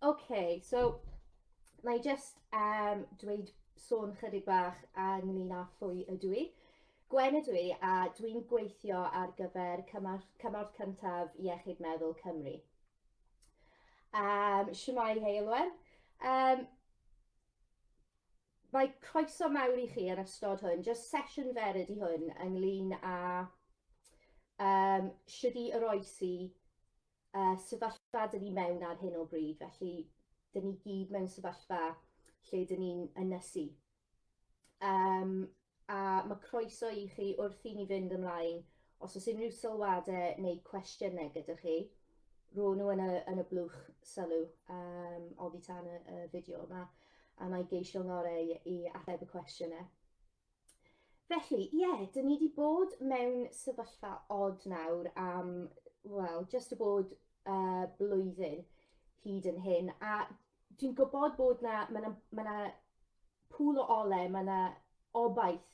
Okay, so na i just um, dweud sôn chydig bach ynglyn â phwy ydw i. Gwen ydw i a dwi'n gweithio ar gyfer cymorth, cymorth cyntaf Iechyd Meddwl Cymru. Um, Siwmai Heilwen. Um, mae croeso mawr i chi yn ystod hwn, just sesiwn fer ydy hwn ynglyn â um, sydd i oroesi y sefyllfa dyn ni mewn ar hyn o bryd, felly dyn ni gyd mewn sefyllfa lle dyn ni'n ynysu. Um, a mae croeso i chi wrth i ni fynd ymlaen os oes unrhyw sylwadau neu cwestiynau gyda chi, ro'n nhw yn y, yn y blwch sylw um, oddi tan y, y fideo yma, a mae geisio ngorau i ateb y cwestiynau. Felly, ie, yeah, dyn ni wedi bod mewn sefyllfa od nawr am, wel, just y bod uh, blwyddyn hyd yn hyn. A dwi'n gwybod bod na, mae yna ma na pŵl o ole, mae yna obaith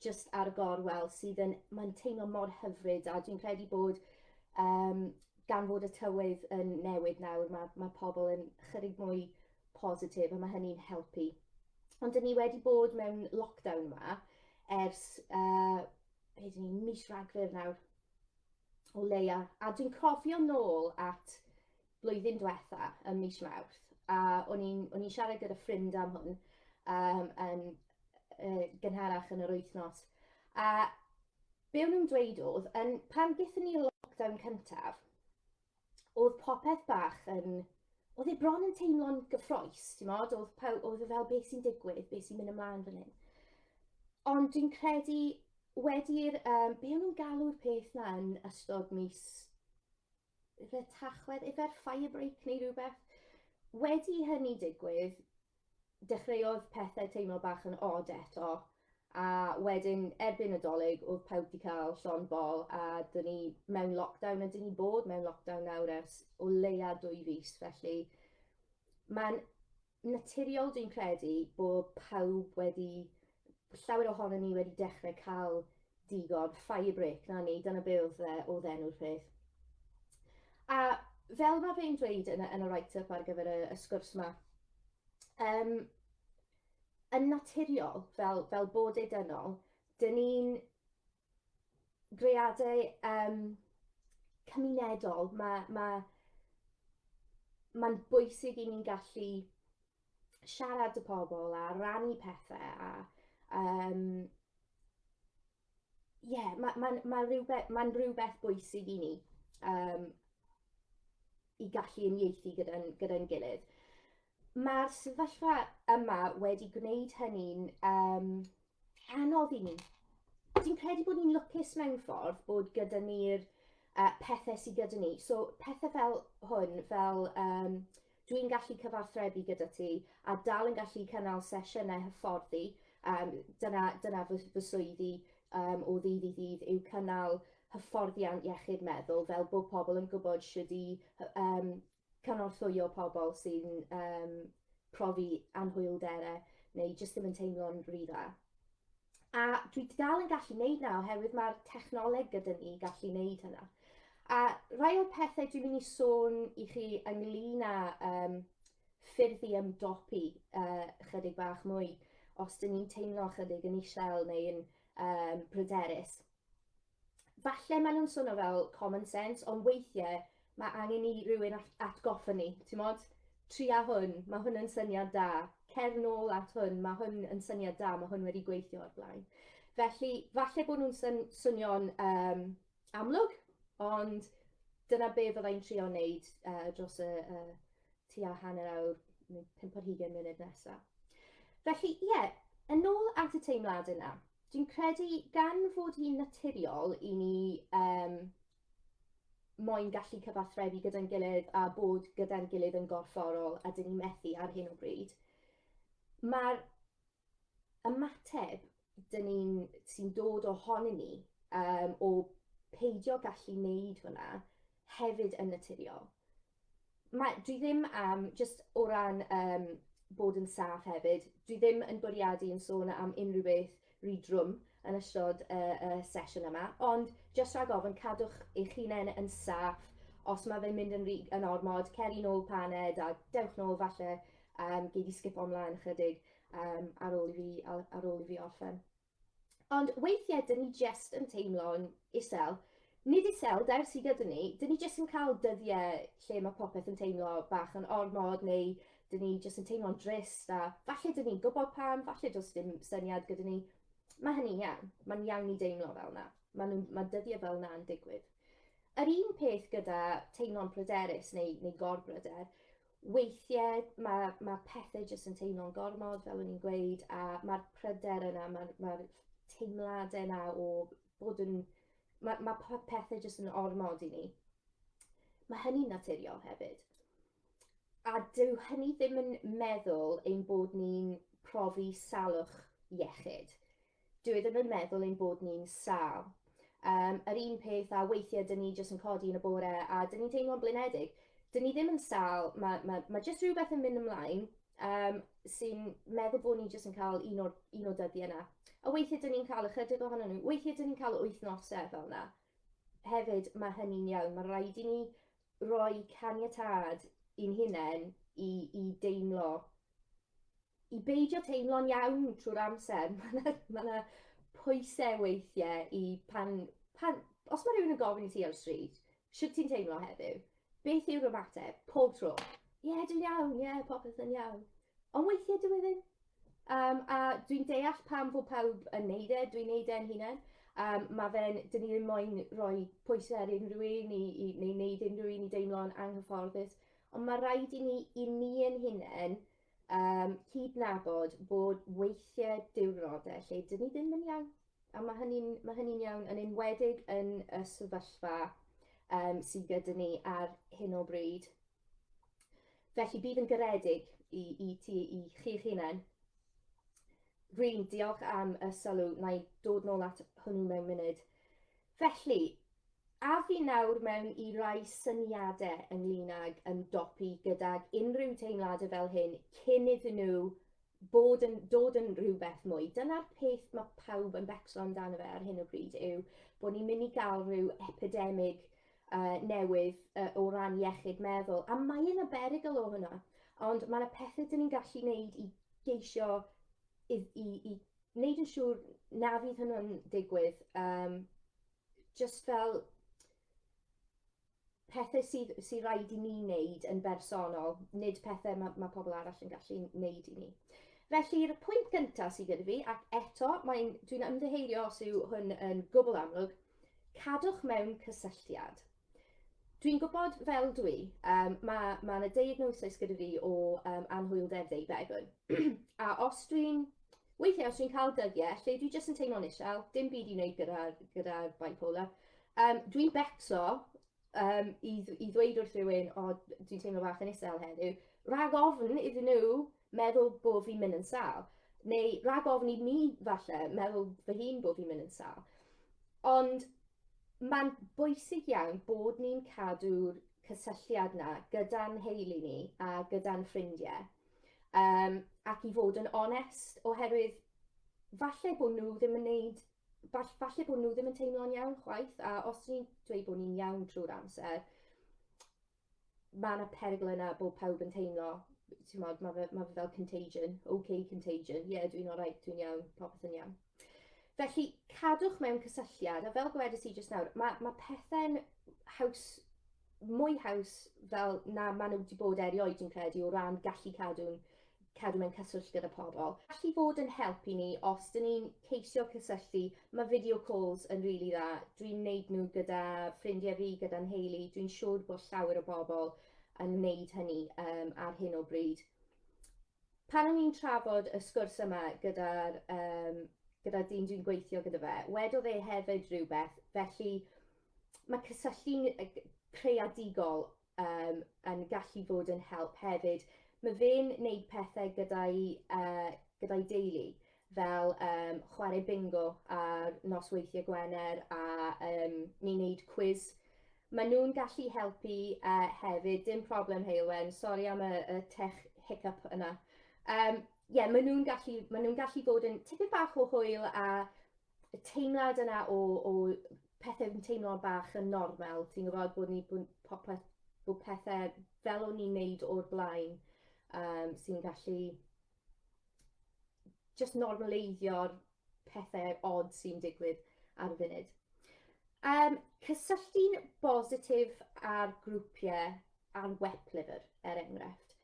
just ar y gorwel sydd yn, mae'n teimlo mor hyfryd a dwi'n credu bod um, gan fod y tywydd yn newid nawr, mae, mae pobl yn chyrig mwy positif a mae hynny'n helpu. Ond dyn ni wedi bod mewn lockdown yma ers, uh, be dyn ni, mis ragfyr nawr, o leia. A dwi'n cofio nôl at blwyddyn diwetha ym mis Mawrth, a o'n i'n siarad gyda ffrind am hwn um, yn uh, gynharach yn yr wythnos. A be o'n i'n dweud oedd, yn, pan gyda ni lockdown cyntaf, oedd popeth bach yn... Oedd e bron yn teimlo'n gyffroes, ti'n modd? Oedd, paw, oedd e fel beth sy'n digwydd, beth sy'n mynd ymlaen fan hyn. Ond dwi'n credu wedi'r... Um, be o'n nhw'n galw'r peth na yn ystod mis... Efe tachwedd, efe'r fire break neu rhywbeth. Wedi hynny digwydd, dechreuodd pethau teimlo bach yn od eto, a wedyn erbyn y dolyg oedd pawb wedi cael llon bol a dyn ni mewn lockdown a dyn ni bod mewn lockdown nawr ers o leia dwy fus felly mae'n naturiol dwi'n credu bod pawb wedi llawer ohonon ni wedi dechrau cael digon, fire break, na ni, dyna be oedd, uh, oedd enw'r peth. A fel mae fe'n dweud yn, yn y write-up ar gyfer y, y sgwrs yma, um, yn naturiol, fel, fel bod ei dynol, dyn ni'n greadau um, cymunedol, mae, mae, mae'n bwysig i ni'n gallu siarad y pobl a rannu pethau a um, yeah, mae'n ma, ma, ma rhywbeth, ma rhywbeth bwysig i ni um, i gallu unieithu gyda'n gyda, gilydd. Mae'r sefyllfa yma wedi gwneud hynny'n um, anodd i ni. Dwi'n credu bod ni'n lwcus mewn ffordd bod gyda ni'r uh, pethau sydd gyda ni. So pethau fel hwn, fel um, Dwi'n gallu cyfathrebu gyda ti a dal yn gallu cynnal sesiynau hyfforddi, um, dyna, dyna fy, fy swyddi um, o ddydd i ddydd yw cynnal hyfforddiant iechyd meddwl fel bod pobl yn gwybod sydd i um, cynorthwyo pobl sy'n um, profi anhwylderau neu jyst ddim yn teimlo'n rhy dda. A dwi dal yn gallu neud na oherwydd mae'r technoleg gyda ni i gallu neud hynna. A rhai o'r pethau dwi'n mynd i sôn i chi ynglyn â um, ffyrdd i ymdopi uh, chydig bach mwy os dyn ni'n teimlo chydig yn isel neu'n um, bryderus. falle maen nhw'n swnio fel common sense, ond weithiau mae angen i rywun atgoffa ni, ti'n modd? Tria hwn, mae hwn yn syniad da. Cer nôl at hwn, mae hwn yn syniad da, mae hwn wedi gweithio o'r blaen. Felly, falle bod nhw'n syn swnio'n um, amlwg, ond dyna be fyddai'n trio wneud uh, dros y uh, tua hanner awr, neu 50 munud nesaf. Felly, ie, yeah, yn ôl at y teimlad yna, Dwi'n credu gan fod hi'n naturiol i ni um, moyn gallu cyfathrebu gyda'n gilydd a bod gyda'n gilydd yn gorfforol a dyn ni methu ar hyn o bryd, mae'r ymateb dyn ni'n sy'n dod ohonyn ni um, o peidio gallu wneud hwnna hefyd yn naturiol. mae, dwi ddim am, just o ran um, bod yn saff hefyd, dwi ddim yn bwriadu yn sôn am unrhyw beth rydrwm yn ystod y uh, uh, sesiwn yma, ond just rhag ofyn cadwch eich hunain yn saff os mae fe'n mynd yn, yn ormod, ceri nôl paned a dewch nôl falle um, gei di sgip omlaen ychydig um, ar, ôl i fi, ar, ar ôl i fi orffen. Ond weithiau dyn ni jest yn teimlo'n isel. Nid isel, dai'r sydd gyda ni, dyn ni jest yn cael dyddiau lle mae popeth yn teimlo bach yn ormod neu dyn ni jest yn teimlo'n drist a falle dyn ni'n gwybod pam, falle does dim syniad gyda ni. Mae hynny'n iawn, mae'n iawn i deimlo fel yna, mae, mae dyddiau fel yna'n digwydd. Yr un peth gyda teimlo'n pryderus neu, neu gorbryder. weithiau mae, mae pethau jyst yn teimlo'n gormod, fel o'n i'n gweud, a mae'r pryder yna, mae'r mae, teimladau yna o bod yn... Mae, mae pethau jyst yn ormod i ni. Mae hynny'n naturiol hefyd. A dyw hynny ddim yn meddwl ein bod ni'n profi salwch iechyd. Dwi ddim yn meddwl ein bod ni'n sâl. Yym, yr un peth â weithiau 'dyn ni jyst yn codi yn y bore a 'dyn ni'n teimlo'n blinedig. 'Dyn ni ddim yn sâl, ma' ma' ma' jyst rhywbeth yn mynd ymlaen yym sy'n meddwl bod ni jyst yn cael un o'r un o'r dyddiau 'na. A weithiau 'dyn ni'n cael ychydig ohonyn nhw, weithiau 'dyn ni'n cael wythnosau fel 'na. Hefyd, ma' hynny'n iawn, ma' raid i ni roi caniatâd i'n hunain i i deimlo i beidio teimlo'n iawn trwy'r amser. Mae yna ma na pwysau weithiau i pan, pan... Os mae rhywun yn gofyn i ti ar y stryd, sut ti'n teimlo heddiw? Beth yw'r ymateb? Pob tro. Ie, yeah, dwi'n iawn, ie, yeah, popeth yn iawn. Ond weithiau dwi e ddim. Um, a dwi'n deall pam fod pawb yn neud e, dwi'n neud e'n hunain. Um, mae fe'n, dyn ni ddim moyn rhoi pwysau ar unrhyw un i, i, neu wneud unrhyw un i deimlo'n anghyfforddus. Ond mae rhaid i ni i ni ein hunain um, cydnabod bod weithiau diwrnodau lle dyn ni ddim yn iawn. A mae hynny'n ma hynny iawn yn enwedig yn y sefyllfa um, sydd gyda ni ar hyn o bryd. Felly bydd yn garedig i, i ti, i chi'ch hunain. Rwy'n diolch am y sylw, na i dod nôl at hwnnw mewn munud. Felly, Af i nawr mewn i rai syniadau ynglyn ag ymdopi gydag unrhyw teimladau fel hyn cyn iddyn nhw bod yn dod yn rhywbeth mwy. Dyna'r peth mae pawb yn becso amdano fe ar hyn o bryd yw bod ni'n mynd i gael rhyw epidemig uh, newydd uh, o ran iechyd meddwl. A mae yna berygl o hwnna. Ond mae yna pethau dyn ni'n gallu wneud i geisio i, i, i wneud yn siŵr na fydd hwnnw'n digwydd. Um, just fel pethau sydd sy rhaid i ni wneud yn bersonol, nid pethau mae, mae pobl arall yn gallu wneud i ni. Felly'r pwynt gyntaf sydd gyda fi, ac eto mae'n, dwi'n ymddiheirio os yw hwn yn gwbl amlwg, cadwch mewn cysylltiad. Dwi'n gwybod fel dwi, um, mae ma yna diagnosis gyda fi o um, anhwyldeb ddeuddegwn. a os dwi'n, weithiau os dwi'n cael dyddiau, lle dwi jyst yn teimlo'n isel, dim byd i wneud gyda, gyda bipolar, um, dwi'n becso um, i, i ddweud wrth rhywun, o, dwi'n teimlo bach yn isel heddiw, rhag ofn iddyn nhw meddwl bo fi'n mynd yn sâl, neu rhag ofn i mi falle meddwl fy hun bo fi'n mynd yn sâl. Ond mae'n bwysig iawn bod ni'n cadw'r cysylltiad 'na gyda'n nheulu ni a gyda'n ffrindiau, um, ac i fod yn onest, oherwydd falle bod nhw ddim yn neud falle bod nhw ddim yn teimlo'n iawn chwaith, a os ni'n dweud bod ni'n iawn trwy'r amser, mae yna perygl yna bod pawb yn teimlo, ti'n modd, mae fe, ma fe fel contagion, OK contagion, ie, yeah, dwi'n o'r right, dwi'n iawn, popeth yn iawn. Felly, cadwch mewn cysylltiad, a fel gwedais i jyst nawr, mae, mae pethau'n haws, mwy haws fel na maen nhw wedi bod erioed, dwi'n credu, o ran gallu cadw'n cadw mewn cyswllt gyda pobl. Gall i fod yn help i ni os dyn ni'n ceisio cysylltu. Mae video calls yn rili really dda. Dwi'n wneud nhw gyda ffrindiau fi, gyda nheulu. Dwi'n siŵr bod llawer o bobl yn wneud hynny um, ar hyn o bryd. Pan o'n i'n trafod y sgwrs yma gyda'r um, gyda dyn dwi'n gweithio gyda fe, wedodd e hefyd rhywbeth, felly mae cysylltu'n creadigol um, yn gallu bod yn help hefyd. Mae fe'n wneud pethau gyda'i, uh, gyda'i deulu, fel um, chwarae bingo ar nos weithiau Gwener a um, ni wneud cwiz. Mae nhw'n gallu helpu uh, hefyd, dim problem Heilwen, sori am y, y tech hiccup yna. Um, yeah, maen nhw'n gallu, maen nhw gallu bod yn tipyn bach o hwyl a y teimlad yna o, o pethau yn teimlo bach yn normal, ti'n gwybod bod ni bod popeth, bod pethau fel o'n ni'n neud o'r blaen um, sy'n gallu just normaleiddio'r pethau odd sy'n digwydd ar y funud. Um, cysylltu'n bositif ar grwpiau ar web lyfr, er enghraifft.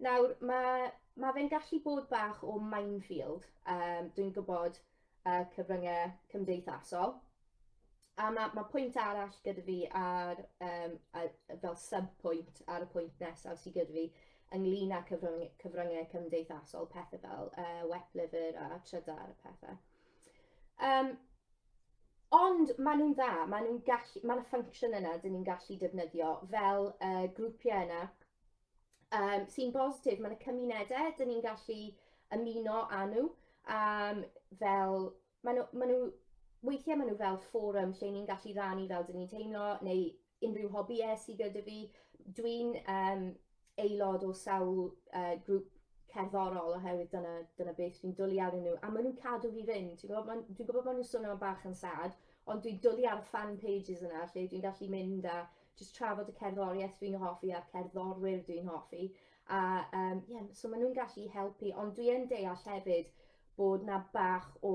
Nawr, mae, mae fe'n gallu bod bach o minefield, um, dwi'n gwybod y uh, cyfryngau cymdeithasol. A mae, mae pwynt arall gyda fi ar, um, ar, fel sub-pwynt ar y pwynt nesaf sydd gyda fi ynglyn â cyfryngau, cyfryngau cymdeithasol, pethau fel uh, wet liver a trydar a pethau. Um, Ond maen nhw'n dda, maen nhw'n gallu, maen nhw'n function yna dyn ni'n gallu defnyddio fel y uh, grwpiau yna um, sy'n bositif. Mae'n y cymunedau, dyn ni'n gallu ymuno â nhw. Um, fel, maen nhw, maen nhw, weithiau maen nhw fel fforwm lle ni'n gallu rannu fel dyn ni'n teimlo, neu unrhyw hobïau sydd gyda fi. Dwi'n um, aelod o sawl uh, grŵp cerddorol oherwydd dyna, dyna beth dwi'n dwlu ar nhw. A maen nhw'n cadw fi fynd. Dwi'n gwybod, dwi'n gwybod maen nhw'n swnio bach yn sad, ond dwi'n dwlu ar y fan pages yna lle dwi'n gallu mynd a jyst trafod y cerddoriaeth dwi'n hoffi a'r cerddorwyr dwi'n hoffi. A um, yeah, so maen nhw'n gallu helpu, ond dwi yn deall hefyd bod na bach o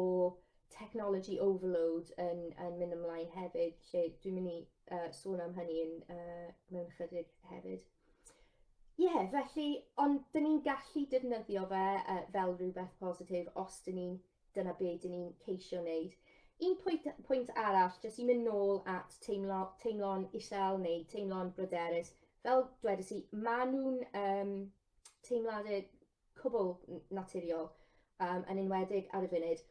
technology overload yn, yn mynd ymlaen hefyd, lle dwi'n mynd i uh, sôn am hynny yn, uh, mewn chydig hefyd. Ie, yeah, felly, ond dyn ni'n gallu defnyddio fe uh, fel rhywbeth positif os dyn ni'n Dyna be dyn ni'n ceisio wneud. Un pwynt, pwynt arall, jyst i mynd nôl at teimlo, teimlo'n isel neu teimlo'n bryderus, fel dwedais i, maen nhw'n um, teimladau cwbl naturiol, um, yn enwedig ar y funud.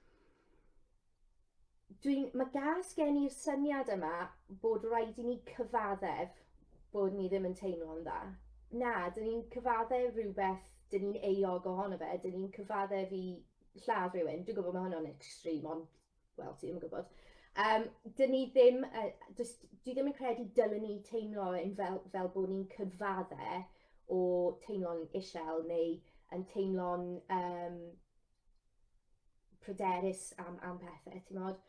Dwi'n, mae gas gen i'r syniad yma bod rhaid i ni cyfaddef bod ni ddim yn teimlo'n dda. Na, dyn ni'n cyfaddef rhywbeth, dyn ni'n euog ohono fe, dyn ni'n cyfaddef i lladd rhywun, dwi'n gwybod mae hwnna'n extreme, ond, wel, ti ddim yn gwybod. Um, dyn ni ddim, uh, dwi ddim yn credu dylwn ni teimlo yn fel, fel bod ni'n cyfadde o teimlo'n isel neu yn teimlo'n um, pryderus am, am pethau, ti'n modd?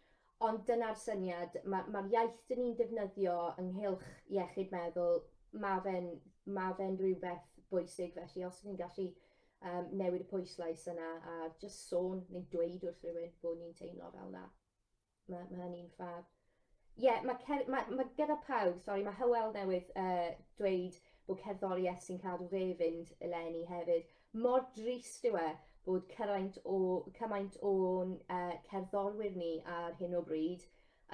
Ond dyna'r syniad, mae'r ma, iaith dyn ni'n defnyddio ynghylch iechyd meddwl, mae fe'n ma fe rhywbeth bwysig, felly os ydyn ni'n gallu um, newid y pwyslais yna a just sôn neu dweud wrth rhywun bod ni'n teimlo fel yna. Mae, mae hynny'n ffab. Ie, yeah, mae, mae, mae gyda pawb, sori, mae Hywel newydd uh, dweud bod cerddoriaeth sy'n cadw fe fynd eleni hefyd. Mor drist yw e bod cymaint o, cymaint o'n uh, cerddorwyr ni ar hyn o bryd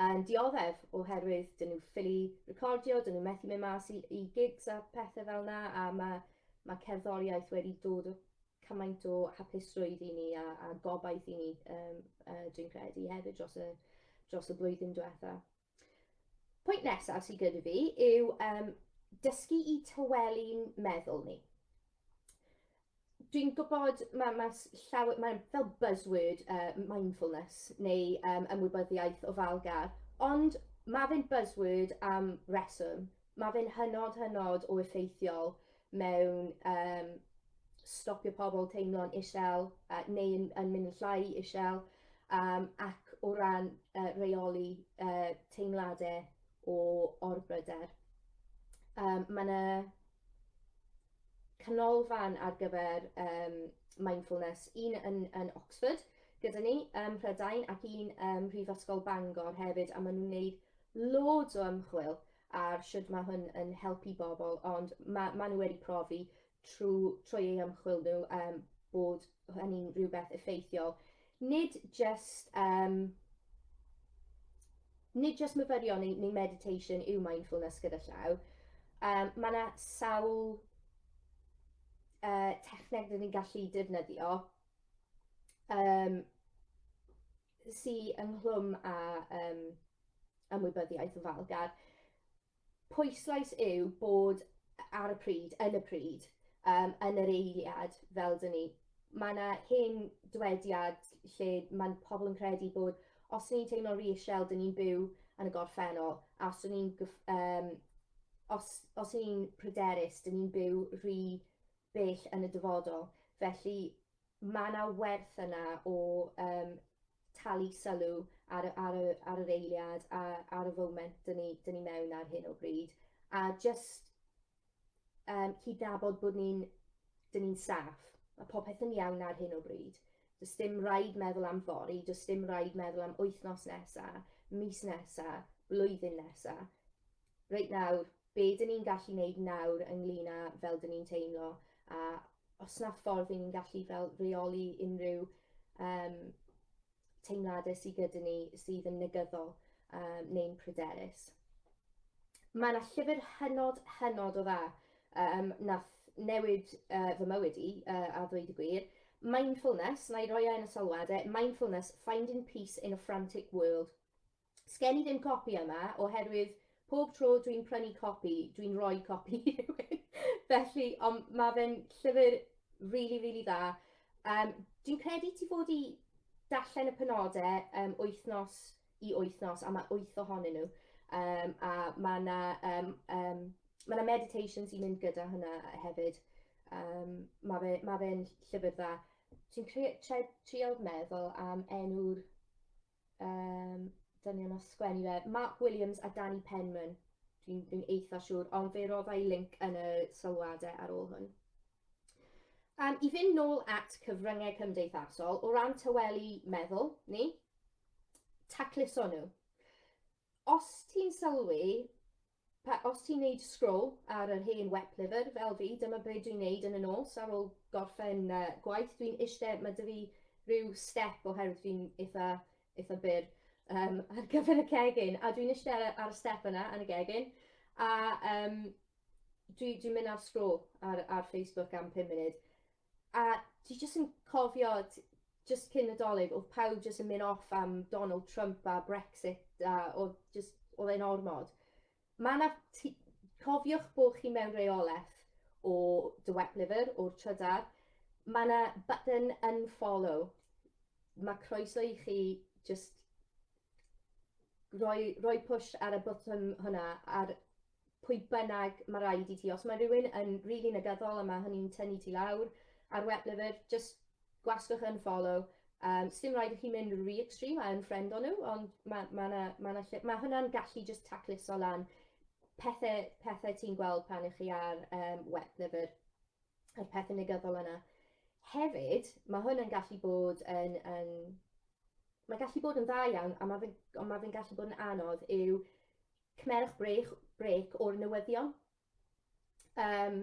yn dioddef oherwydd dyn nhw ffili recordio, dyn nhw methu mynd mas i, i gigs a pethau fel yna a mae Mae cerddoriaeth wedi dod o cymaint o hapusrwydd i ni a, a gobaith i ni, um, uh, dwi'n credu, hefyd dros y, dros y blwyddyn diwetha. Pwynt nesaf sydd gyda fi yw um, dysgu i tawelu'n meddwl ni dwi'n gwybod mae ma llawer, mae fel buzzword uh, mindfulness neu um, ymwybyddiaeth ofalgar, ond mae fe'n buzzword am reswm. Mae fe'n hynod, hynod o effeithiol mewn um, stopio pobl teimlo'n isel uh, neu yn, yn mynd yn llai isel um, ac o ran uh, reoli uh, teimladau o orbryder. Um, mae yna canolfan ar gyfer um, mindfulness, un yn, yn Oxford gyda ni ym um, Mhrydain ac un ym um, Mhrifysgol Bangor hefyd a maen nhw'n gwneud loads o ymchwil ar shwd ma' hwn yn helpu bobl ond ma' ma' nhw wedi profi trw trwy eu ymchwil nhw yym bod hynny'n rhywbeth effeithiol. Nid jyst yym nid jyst myfyrio neu neu meditation yw mindfulness gyda llaw. Yym ma' 'na sawl yy techneg 'dyn ni'n gallu defnyddio yym sy ynghlwm â um, ymwybyddiaeth o falgar, pwyslais yw bod ar y pryd, yn y pryd, um, yn yr eiliad, fel dyn ni, mae yna hen dwediad lle mae pobl yn credu bod os ni'n teimlo reisiel, dyn ni'n byw yn y gorffennol, a os ni'n um, os, os ni'n pryderus, dyn ni'n byw rhy bell yn y dyfodol. Felly, mae yna werth yna o um, talu sylw ar, ar, y, ar yr eiliad a ar y foment dyn ni, dyn ni mewn ar hyn o bryd. A just um, cydnabod bod ni'n dyn ni'n saff, mae popeth yn iawn ar hyn o bryd. Does dim rhaid meddwl am fori, does dim rhaid meddwl am wythnos nesa, mis nesa, blwyddyn nesa. Reit nawr, be dyn ni'n gallu wneud nawr ynglyn â fel dyn ni'n teimlo, a os na ffordd i ni'n gallu fel reoli unrhyw um, teimladau sydd gyda ni sydd yn negyddol um, neu'n pryderus. Mae yna llyfr hynod, hynod o dda um, nath newid uh, fy mywyd i, uh, a ddweud y gwir, Mindfulness, na i roi e yn y sylwadau, Mindfulness, Finding Peace in a Frantic World. Sgen i ddim copi yma, oherwydd pob tro dwi'n prynu copi, dwi'n rhoi copi i rhywun. Felly, ond mae fe'n llyfr really, really dda. Um, dwi'n credu ti fod i darllen y penodau um, wythnos i wythnos, a mae wyth ohonyn nhw. Um, a mae yna um, um, ma meditation sy'n mynd gyda hynna hefyd. Um, mae fe'n ma fe llyfr dda. Ti'n trial meddwl am enw'r um, dynion o sgwennu fe, Mark Williams a Danny Penman, dwi'n dwi eitha siŵr, ond fe roddai link yn y sylwadau ar ôl hwn. Um, I fynd nôl at cyfryngau cymdeithasol, o ran tawelu meddwl ni, tacluso nhw. Os ti'n sylwi, pa, os ti'n neud scroll ar yr hen wep lyfr fel fi, dyma be dwi'n neud yn y nos ar ôl gorffen uh, gwaith. Dwi'n eistedd, mae dy fi rhyw step oherwydd dwi'n eitha, eitha byr um, ar gyfer y cegin, a dwi'n eistedd ar y step yna yn y gegin, a um, dwi'n dwi mynd ar scroll ar, ar Facebook am 5 munud. A dwi jyst yn cofio t- jyst cyn y dolig o'dd pawb jyst yn myn' off am Donald Trump a Brexit a o'dd jyst o'dd e'n ormod. Ma' 'na ti- cofiwch bo' chi mewn reoleth o dy wet liver o'r trydar. Ma' 'na button unfollow. Ma' croeso i chi jyst roi roi push ar y bwtwm hwnna ar pwy bynnag mae rhaid i ti, os mae rhywun yn rili really negyddol a mae hynny'n tynnu ti lawr ar wet liver, just gwasgwch yn follow. Um, Sdim rhaid i chi mynd rhy extreme a yn ffrend o'n nhw, ond mae ma na, ma na lle, mae hwnna'n gallu just tacluso lan pethau, pethau ti'n gweld pan ych chi ar um, wet liver, yr pethau negyddol yna. Hefyd, mae hwn yn gallu bod yn, yn mae gallu bod yn dda iawn, a mae fe'n ma fe gallu bod yn anodd yw cymerwch brech, brec o'r newyddion. Um,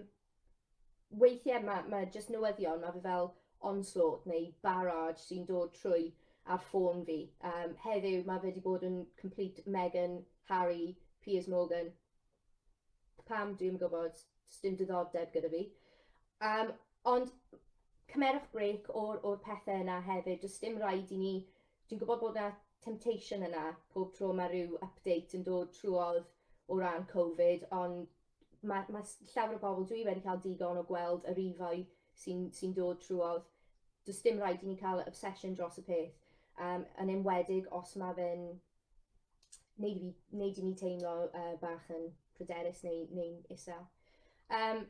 weithiau mae, mae jyst newyddion, mae fe fel onslaught neu barrage sy'n dod trwy ar ffôn fi. Um, heddiw mae fe wedi bod yn complete Meghan, Harry, Piers Morgan. Pam, dwi'n gwybod, dim diddordeb gyda fi. Um, ond cymerwch brec o'r, or pethau yna hefyd, does dim rhaid i ni Dwi'n gwybod bod 'na temptation yna pob tro mae rhyw update yn dod trwodd o ran Covid, ond mae, mae llawer o bobl, dwi wedi cael digon o gweld y rifau sy'n sy dod trwodd. Does dim rhaid i ni cael obsession dros y peth, um, yn enwedig os mae fe'n neud i, fi, neud i ni teimlo uh, bach yn pryderus neu, neu isel. Um,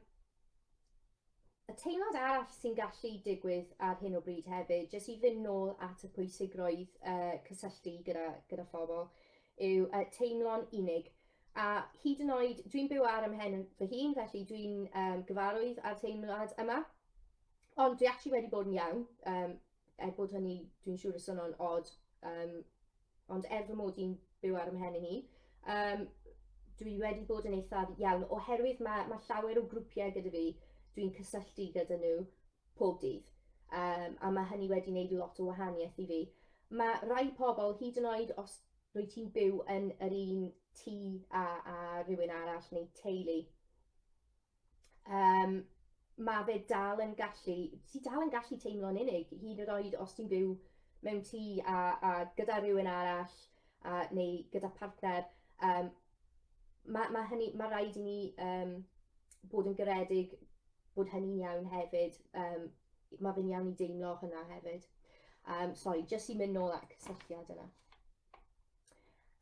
Y teimlad arall sy'n gallu digwydd ar hyn o bryd hefyd, jyst i fynd nôl at y pwysigrwydd uh, cysylltu gyda, gyda phobl, yw uh, teimlo'n unig. A hyd yn oed, dwi'n byw ar ymhen fy hun, felly dwi'n um, gyfarwydd â'r teimlad yma. Ond dwi actually wedi bod yn iawn, um, er bod hynny, dwi'n siŵr y swnio'n od, um, ond er fy mod i'n byw ar ymhen i hi, um, dwi wedi bod yn eithaf iawn, oherwydd mae, mae llawer o grwpiau gyda fi, dwi'n cysylltu gyda nhw pob dydd, um, a mae hynny wedi gwneud lot o wahaniaeth i fi. Mae rai pobl, hyd yn oed os rwy ti'n byw yn yr un tŷ a, a rhywun arall neu teulu, um, mae fe dal yn gallu, ti dal yn gallu teimlo'n unig, hyd yn oed os ti'n byw mewn tŷ a, a gyda rhywun arall a, neu gyda partner, um, mae ma hynny, mae rhaid i ni um, bod yn garedig bod hynny'n iawn hefyd. Um, mae fe'n iawn i deimlo hynna hefyd. Um, sorry, jyst i mynd nôl at cysylltiad yna.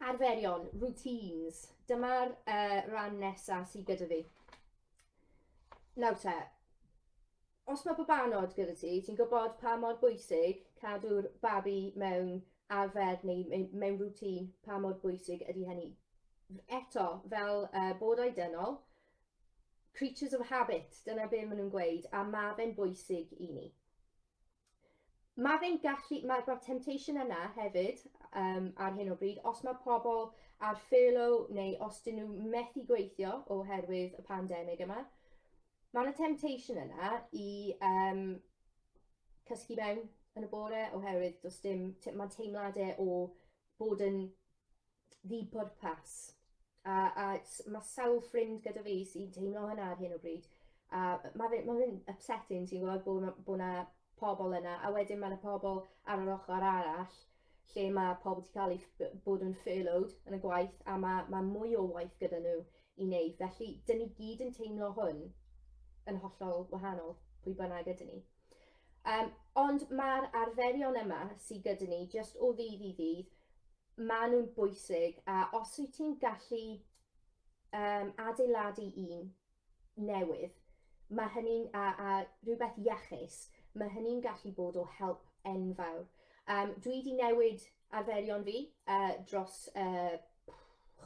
Arferion, routines. Dyma'r uh, ran nesaf sydd gyda fi. Nawr te, os mae babanod gyda ti, ti'n gwybod pa mor bwysig cadw'r babi mewn arfer neu mewn rŵtîn, pa mor bwysig ydy hynny. Eto, fel uh, bodau dynol, creatures of habit, dyna be maen nhw'n gweud, a mae fe'n bwysig i ni. Mae fe'n gallu, mae'r ma temptation yna hefyd um, ar hyn o bryd, os mae pobl ar furlough neu os dyn nhw methu gweithio oherwydd y pandemig yma, mae yna temptation yna i um, cysgu mewn yn y bore oherwydd does dim, mae'n teimladau o bod yn ddibwrpas. A, a mae sawl ffrind gyda fi sy'n teimlo hynna ar hyn o bryd. A mae fe'n ma upsetting, ti'n gwybod, bod yna bo na pobl yna. A wedyn mae yna pobl ar yr ochr arall lle mae pobl wedi cael ei bod yn furloughed yn y gwaith a mae, mae mwy o waith gyda nhw i wneud. Felly, dyn ni gyd yn teimlo hwn yn hollol wahanol pwy bynnag ydyn ni. Um, ond mae'r arferion yma sydd gyda ni, jyst o ddydd i ddydd, maen nhw'n bwysig a os wyt ti'n gallu um, adeiladu un newydd, mae hynny'n a, a rhywbeth iachus, mae hynny'n gallu bod o help enfawr. Um, dwi wedi newid arferion fi uh, dros uh,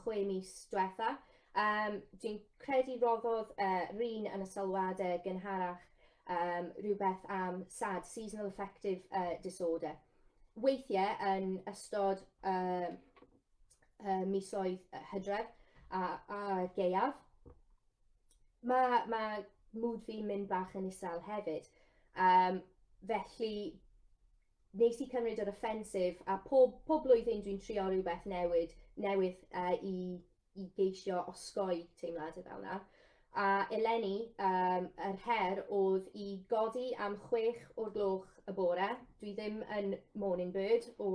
chwe mis diwetha. Um, dwi'n credu roddodd uh, rhan yn y sylwadau gynharach um, rhywbeth am SAD, Seasonal Affective uh, Disorder. weithiau yn ystod y, y misoedd hydref a, a geiaf. Mae, mae mwd fi'n mynd bach yn isel hefyd. Um, felly, nes i cymryd yr offensif, a pob, pob blwyddyn dwi'n trio rhywbeth newid, newydd uh, i, i geisio osgoi teimladau fel yna. A eleni, um, yr her oedd i godi am chwech o'r gloch y bore. Dwi ddim yn morning bird o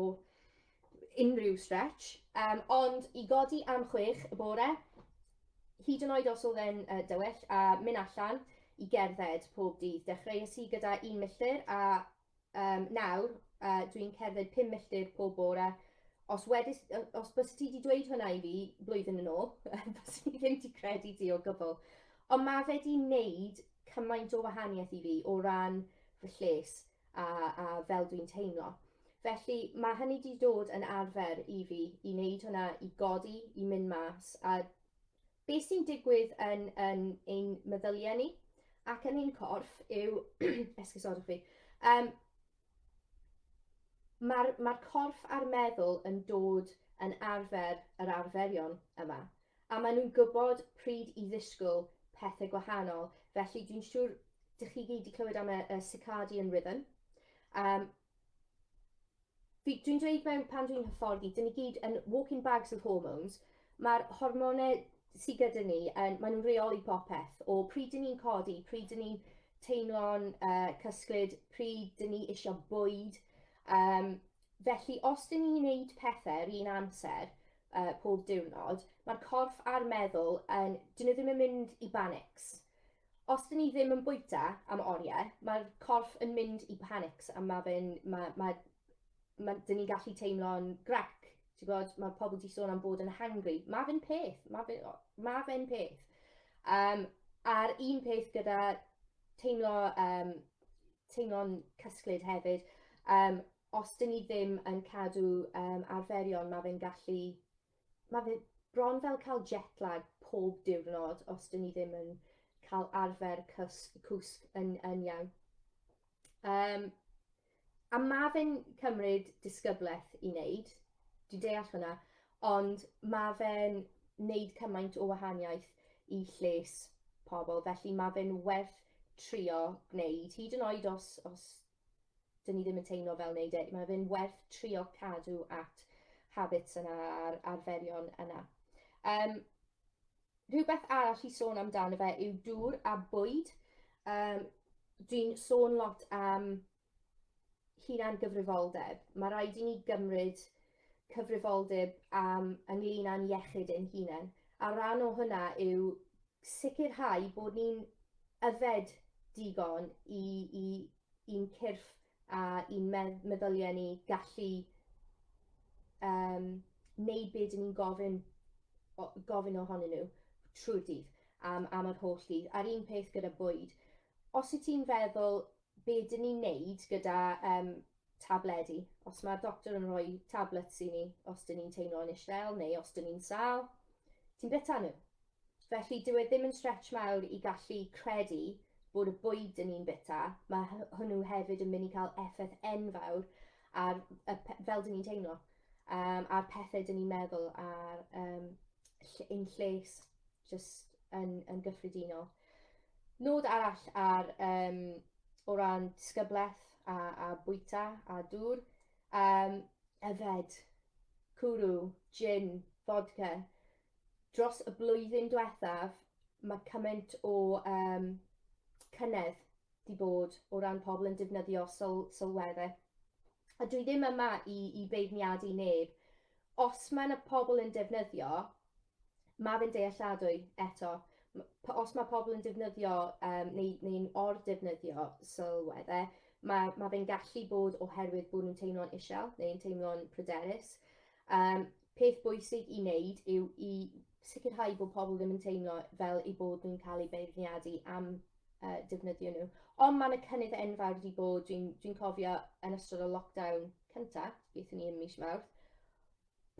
unrhyw stretch, um, ond i godi am chwech y bore, hyd yn oed os oedd e'n uh, dywyll, a mynd allan i gerdded pob dydd. Dechreuais i gyda un milltir a Um, nawr, uh, dwi'n cerdded pum milltir pob bore. Os, wedys, os bys ti wedi dweud hwnna i fi blwyddyn yn ôl, bys i ddim wedi credu ti o gwbl. Ond mae fe wedi wneud cymaint o wahaniaeth i fi o ran fy lles a, a fel dwi'n teimlo. Felly mae hynny wedi dod yn arfer i fi i wneud hwnna, i godi, i mynd mas, a Be sy'n digwydd yn, yn ein meddyliau ni ac yn ein corff yw, esgusodwch fi, um, mae'r ma corff a'r meddwl yn dod yn arfer yr arferion yma, a maen nhw'n gwybod pryd i ddisgwyl pethau gwahanol, felly dwi'n siŵr dych chi gyd wedi clywed am y, y circadian rhythm. Um, Dwi, dwi'n dweud mewn pan dwi'n hyfforddi, dyn ni gyd yn walking bags of hormones. Mae'r hormonau sydd gyda ni, yn, maen nhw'n reoli popeth. O pryd dyn ni'n codi, pryd dyn ni'n teimlo'n uh, cysglyd, pryd dyn ni eisiau bwyd. Um, felly, os dyn ni'n gwneud pethau yr un amser uh, pob diwrnod, mae'r corff a'r meddwl, yn, dyn nhw ddim yn mynd i banics. Os dyn ni ddim yn bwyta am oriau, mae'r corff yn mynd i panics a mae fe'n... Mae, mae, mae, dyn ni'n gallu teimlo'n grac. Ti'n gwybod, mae pobl di sôn am bod yn hangry. Mae fe'n peth. Mae fe'n ma fe peth. Um, a'r un peth gyda teimlo, um, teimlo'n cysglyd hefyd. Um, os dyn ni ddim yn cadw um, arferion, mae fe'n gallu mae fe bron fel cael jet lag pob diwrnod os dyn ni ddim yn cael arfer cysg, cwsg yn, yn iawn. Um, a mae fe'n cymryd disgyblaeth i wneud, dwi'n deall hwnna, ond mae fe'n wneud cymaint o wahaniaeth i lles pobl, felly mae fe'n werth trio gwneud, hyd yn oed os, os 'dyn ni ddim yn teimlo fel wneud e, mae fe'n werth trio cadw at habits yna a'r arferion yna. Um, rhywbeth arall i sôn amdano fe yw dŵr a bwyd. Um, Dwi'n sôn lot am hunan gyfrifoldeb. Mae rhaid i ni gymryd cyfrifoldeb am ynglyn â'n iechyd ein hunain. A rhan o hwnna yw sicrhau bod ni'n yfed digon i i i'n cyrff a i'n medd- meddyliau ni gallu um, neud be dyn ni'n gofyn, o, gofyn ohonyn nhw trwy'r dydd am, am yr holl dydd. A'r un peth gyda bwyd. Os wyt ti'n feddwl be dyn ni'n neud gyda um, tabledi, os mae'r doctor yn rhoi tablets i ni, os dyn ni'n teimlo'n eistedd neu os dyn ni'n sal, ti'n bita nhw. Felly dyw e ddim yn stretch mawr i gallu credu bod y bwyd yn un bita, mae hwnnw hefyd yn mynd i cael effaith enfawr ar y, fel dyn ni'n teimlo, um, a'r pethau dyn ni'n meddwl ar um, ein lles just yn, yn gyffredinol. Nod arall ar, um, o ran disgyblaeth a, a bwyta a dŵr, um, yfed, cwrw, gin, vodka, dros y blwyddyn diwethaf, mae cymaint o um, cynnydd di bod o ran pobl yn defnyddio syl, sylweddau. A dwi ddim yma i, i beirniadu neb. Os mae yna pobl yn defnyddio, mae fe'n dealladwy eto. Os mae pobl yn defnyddio um, neu, neu'n or-defnyddio sylweddau, mae, mae fe'n gallu bod oherwydd bod nhw'n teimlo'n isel neu'n teimlo'n pryderus. Um, Peth bwysig i wneud yw i sicrhau bod pobl ddim yn teimlo fel eu bod nhw'n cael eu beirniadu am uh, defnyddio nhw. Ond mae yna cynnydd enfawr wedi bod, dwi'n dwi, dwi cofio yn ystod o lockdown cyntaf, beth ni ym mis Mawrth,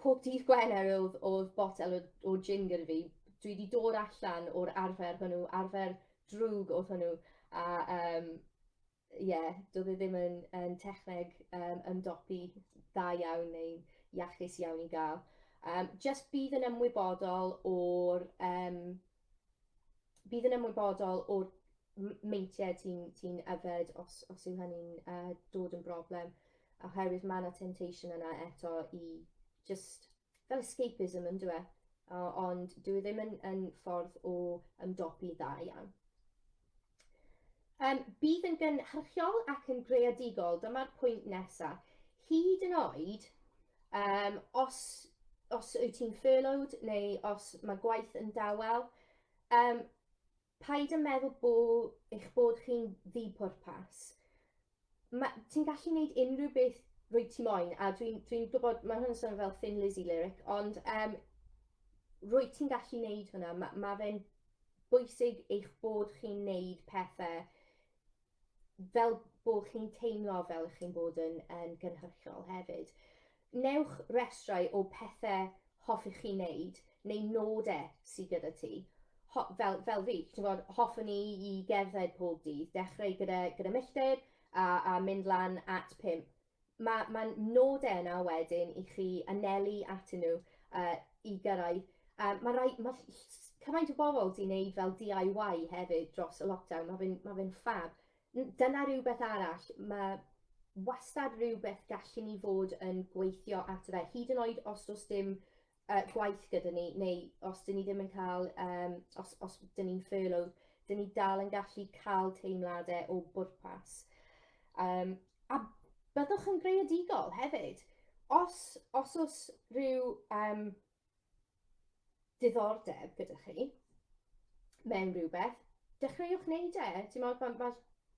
pob dydd Gwener oedd, oedd botel o, o gin gyda fi. Dwi wedi dod allan o'r arfer hwnnw, arfer drwg oedd hwnnw, a um, ie, doedd e ddim yn, yn techneg um, ymdopi dda iawn neu'n iachus iawn i gael. Um, just bydd yn ymwybodol o'r um, bydd yn ymwybodol o'r meintiau ti'n ti yfed os, os yw hynny'n uh, dod yn broblem oherwydd mae yna temptation yna eto i just fel escapism yn dyw e, ond dyw e ddim yn, yn ffordd o ymdopi dda iawn. Um, bydd yn gynhyrchiol ac yn greadigol, dyma'r pwynt nesaf. Hyd yn oed, um, os, os wyt ti'n furloughed neu os mae gwaith yn dawel, um, Paid â meddwl bo eich bod chi'n ddi-pwrpas. Ma'... ti'n gallu neud unrhyw beth rwyt ti moyn a dwi'n dwi'n gwybod mae hwn yn swnio fel Thin Lizzy lyric ond um, rwyt ti'n gallu neud hwnna. Mae ma fe'n bwysig eich bod chi'n neud pethau fel bod chi'n teimlo fel ych chi'n bod yn, yn gynhyrchiol hefyd. Newch restrau o pethau hoffech chi wneud neu nodau sydd gyda ti. Ho, fel, fel fi, ti'n bod, hoffwn i i gerdded pob dydd, dechrau gyda, gyda milltir a, a mynd lan at 5 Mae mae nodau yna wedyn i chi anelu atyn nhw uh, i gyrraedd. Um, mae rai, ma cymaint o bobl wedi wneud fel DIY hefyd dros y lockdown, mae fe'n ma fe ffab. Dyna rhywbeth arall, mae wastad rhywbeth gallen ni fod yn gweithio ato fe, hyd yn oed os does dim uh, gwaith gyda ni, neu os dyn ni ddim yn cael, um, os, os dyn ni'n furlough, dyn ni dal yn gallu cael teimladau o bwrpas. Um, a byddwch yn greadigol hefyd. Os, os oes rhyw um, diddordeb gyda chi mewn rhywbeth, dechreuwch wneud e. Ti'n meddwl, mae, mae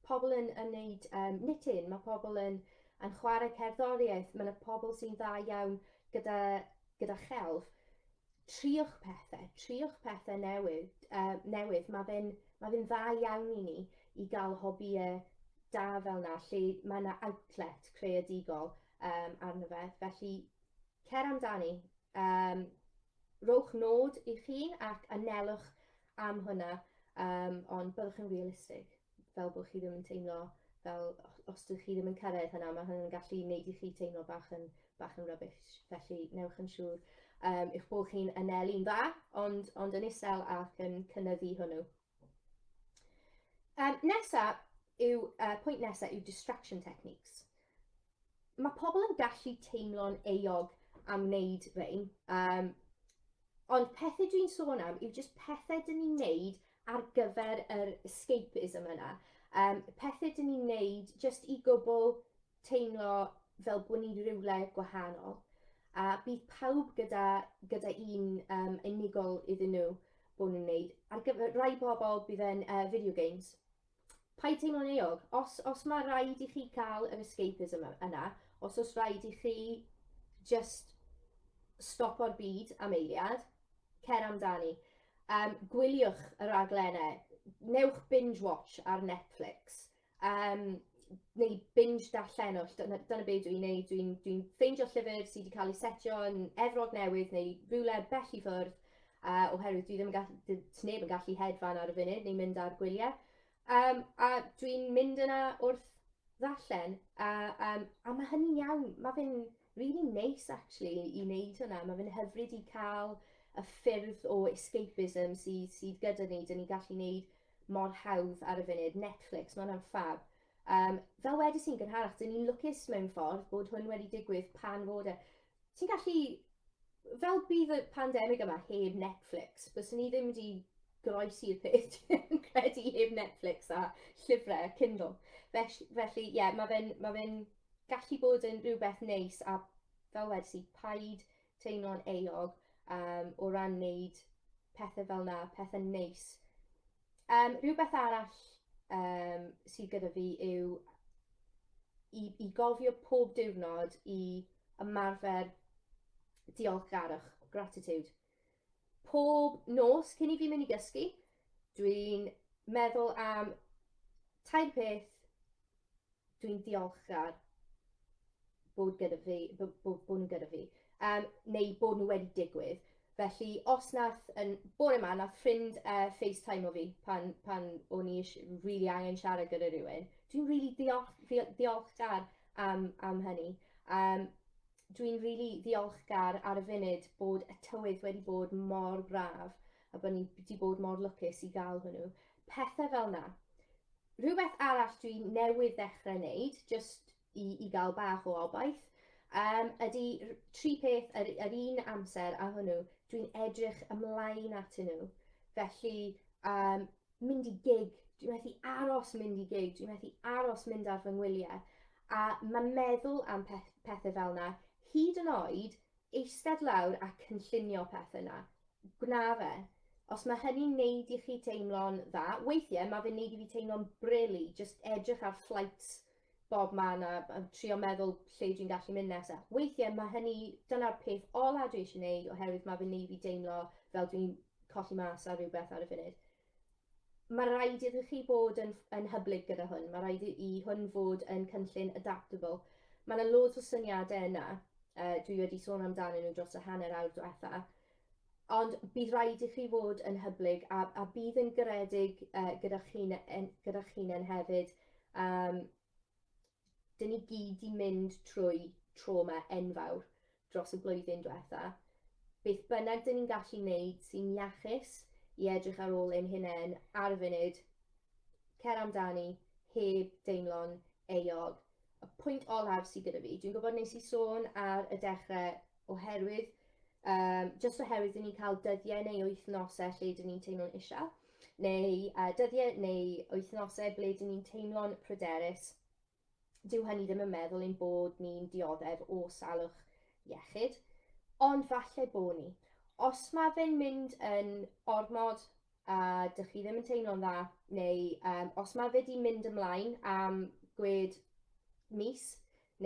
pobl yn yn neud um, knitting, mae pobl yn, yn chwarae cerddoriaeth, mae yna pobl sy'n dda iawn gyda, gyda chelf. Triwch pethau, triwch pethau newydd, uh, newydd. mae fe'n ma fe dda iawn i ni i gael hobïau da fel yna, lle mae yna outlet creadigol um, arno fe. Felly, cer amdani, um, rowch nod i chi ac anelwch am hwnna, um, ond byddwch yn realistig, fel bod chi ddim yn teimlo fel os dych chi ddim yn cyrraedd hynna, mae hynny'n gallu gwneud i chi teimlo bach yn, bach yn rubbish, felly newch yn siŵr um, eich bod chi'n anelu'n dda, ond, ond yn isel ac yn cynnyddu hwnnw. Um, nesa yw, uh, pwynt nesa yw distraction techniques. mae pobl yn gallu teimlo'n eog am wneud rhain, um, ond pethau dwi'n sôn am yw jyst pethau dyn ni'n neud ar gyfer yr escapism yna. Um, pethau dyn ni'n neud jyst i gwbl teimlo fel bod ni rhywle gwahanol. A bydd pawb gyda, gyda un um, unigol iddyn nhw bod nhw'n neud. Ar gyfer rhai bobl bydd e'n uh, video games. Paid teimlo'n euog. Os, os mae rhaid i chi cael yr escapism yna, os os rhaid i chi just stop o'r byd am eiliad, cer amdani. Um, gwyliwch y raglenau, newch binge watch ar Netflix, um, neu binge darllenwch, dyna, dyna beth dwi'n neud, dwi'n dwi ffeindio llyfr sydd wedi cael ei setio yn efrog newydd neu rhywle bell i ffwrdd, A oherwydd dwi ddim yn gall- d- t- neb yn gallu hedfan ar y funud neu mynd ar gwyliau. Um, a dwi'n mynd yna wrth ddarllen. A, um, a mae hynny'n iawn. Mae fe'n really nice, actually, i wneud hwnna. Mae fe'n hyfryd i cael y ffyrdd o escapism sydd, sydd gyda ni. Dyn ni'n gallu gwneud mor hawdd ar y funud. Netflix, mae hwnna'n ffab. Um, fel wedi sy'n gynharach, dyn ni'n lwcus mewn ffordd bod hwn wedi digwydd pan fod e. ti'n gallu, fel bydd y pandemig yma heb Netflix, byswn ni ddim wedi groesi'r peth, yn credu, heb Netflix a llyfrau Kindle. Felly, felly ie, yeah, mae fe'n ma fe gallu bod yn rhywbeth neis a fel wedi i, paid teimlo'n eog um, o ran wneud pethau fel na, pethau neis Um, rhywbeth arall um, sydd gyda fi yw i, i gofio pob diwrnod i ymarfer diolchgarwch, gratitude. Pob nos cyn i fi mynd i gysgu, dwi'n meddwl am tair peth dwi'n diolchgar bod gyda fi, bod, bod, bod nhw gyda fi, um, neu bod nhw wedi digwydd. Felly, os nath, yn bore yma, nath ffrind uh, FaceTime o fi pan, pan o'n i rili really angen siarad gyda rhywun, dwi'n rili really diolchgar am, am hynny. Um, dwi'n rili really ddiolchgar ar y funud bod y tywydd wedi bod mor braf a bod ni wedi bod mor lwcus i gael hwnnw. Pethe fel 'na. Rhywbeth arall dwi newydd ddechrau wneud, jyst i, i gael bach o obaith, um, ydy tri peth yr, yr un amser a hwnnw, dwi'n edrych ymlaen at nhw. Felly, um, mynd i gig, dwi'n methu aros mynd i gig, dwi'n methu aros mynd ar fy ngwyliau. A mae meddwl am peth, pethau fel yna, hyd yn oed Eistedd lawr a cynllunio pethau 'na. Gwna fe. Os mae hynny'n neud i chi teimlo'n dda, weithiau mae fe'n neud i fi teimlo'n brili, jyst edrych ar flights bob man a trio meddwl lle dwi'n gallu mynd nesa. Weithiau mae hynny, dyna'r peth ola dwi eisiau neud oherwydd mae fe'n neud i fi deimlo fel dwi'n colli mas ar rhywbeth ar y funud. Mae rhaid iddo chi fod yn, yn hyblyg gyda hwn, mae rhaid i hwn fod yn cynllun adaptable. Mae yna loads o syniadau yna, uh, dwi wedi sôn amdanyn nhw dros y hanner awr diwetha, ond bydd rhaid i chi fod yn hyblyg a, a bydd yn garedig uh, gyda chi'n gyda chi hefyd. Um, 'dyn ni gyd 'di mynd trwy trawma enfawr dros y blwyddyn dwetha, beth bynnag 'dyn ni'n gallu neud sy'n iachus i edrych ar ôl ein hunen ar y funud, cer amdani heb deimlo'n euog. Y pwynt olaf sy gyda fi, dwi'n gwybod nes i sôn ar y dechre oherwydd, um, just oherwydd dyn ni'n cael dyddiau neu wythnosau lle dyn ni'n teimlo'n eisiau, neu uh, dyddiau neu wythnosau ble dyn ni'n teimlo'n pryderus, dyw hynny ddim yn meddwl ein bod ni'n dioddef o salwch iechyd, ond falle bo ni. Os mae fe'n mynd yn ormod a dych chi ddim yn teimlo'n dda, neu um, os mae fe wedi mynd ymlaen am gwed mis,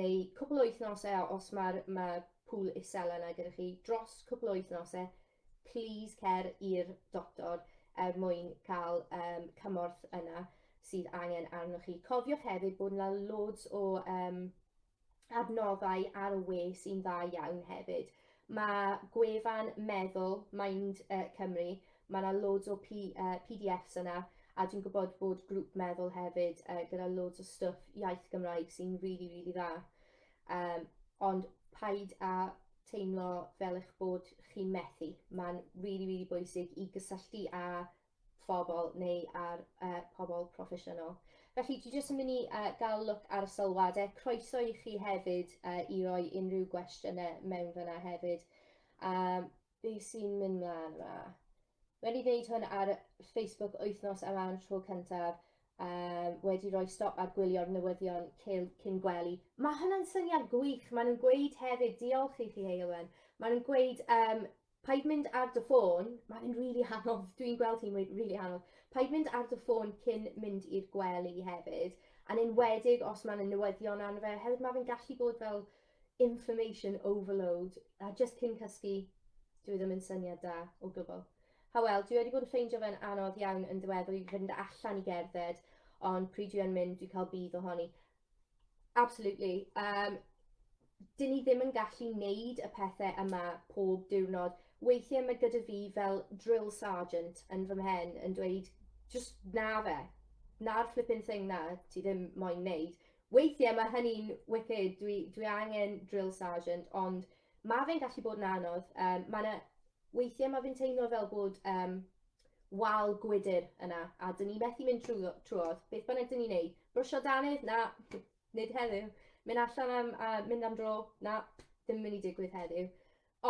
neu cwpl o wythnosau a os mae'r ma pŵl isel yna gyda chi dros cwpl o wythnosau plîs cer i'r doctor er mwyn cael um, cymorth yna sydd angen arnoch chi. Cofiwch hefyd bod yna loads o um, adnoddau ar y we sy'n dda iawn hefyd. Mae gwefan Meddwl, Mind uh, Cymru, mae yna loads o P, uh, PDFs yna, a dwi'n gwybod bod grŵp meddwl hefyd uh, gyda loads o stwff iaith Gymraeg sy'n rili, really, rili really dda. Um, ond paid a teimlo fel eich bod chi'n methu. Mae'n rili, really, rili really bwysig i gysylltu â phobl neu ar uh, pobl proffesiynol. Felly, dwi jyst yn mynd i uh, gael look ar y sylwadau. Croeso i chi hefyd uh, i roi unrhyw gwestiynau mewn fyna hefyd. Um, be sy'n mynd mlaen yma? Wedi wneud hwn ar Facebook wythnos yma yn tro cyntaf, um, wedi rhoi stop ar gwylio'r newyddion cyn gwely. Mae hwnna'n syniad gwych. Maen nhw'n gweud hefyd, diolch i chi Heilwen, maen nhw'n gweud um, Paid mynd ar dy ffôn, mae fe'n rili really hanodd, dwi'n gweld hi'n rili really hanodd. Paid mynd ar dy ffôn cyn mynd i'r gwely hefyd, a'n enwedig os mae'n newyddion arno fe, hefyd mae fe'n gallu bod fel information overload, a just cyn cysgu, dwi ddim yn syniad da o gwbl. Hawel, dwi wedi bod yn ffeindio fe'n anodd iawn yn ddiweddar i fynd allan i gerdded, ond pryd dwi yn mynd, dwi cael budd ohoni. Absolutely. Um, dyn ni ddim yn gallu neud y pethau yma pob diwrnod. Weithiau mae gyda fi fel drill sergeant yn fy mhen yn dweud, just na fe, na'r flipping thing na ti ddim moyn neud. Weithiau mae hynny'n wicked, dwi, dwi angen drill sergeant, ond mae fe'n gallu bod yn anodd. Um, mae yna Weithiau mae fe'n teimlo fel bod um, wal gwydr yna, a dyn ni methu mynd trwy, trwodd, beth bynnag dyn ni'n neud. Brwsio danydd? Na, nid heddiw. Mynd allan am, a mynd am dro? Na, ddim yn mynd i digwydd heddiw.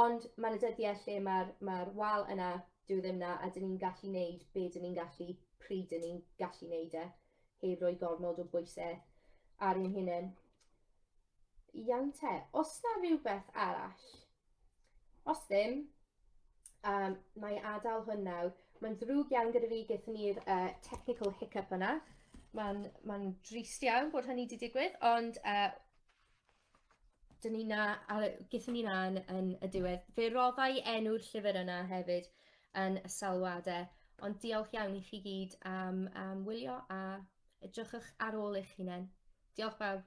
Ond mae'n y dyddiau lle mae'r ma wal yna, dyw e ddim na, a dyn ni'n gallu neud be dyn ni'n gallu, pryd dyn ni'n gallu neud e, heb roi gormod o bwysau ar ein hunain. Iawn te, os na rhywbeth arall, Os ddim, um, na i adael hwn nawr. Mae'n ddrwg iawn gyda fi, gyda ni'r uh, technical hiccup yna. Mae'n ma drist iawn bod hynny wedi digwydd, ond uh, dyn ni na, gyda ni na yn, yn y diwedd. Fe roddai enw'r llyfr yna hefyd yn y salwadau, ond diolch iawn i chi gyd am, am wylio a edrychwch ar ôl eich hunain. Diolch bawb.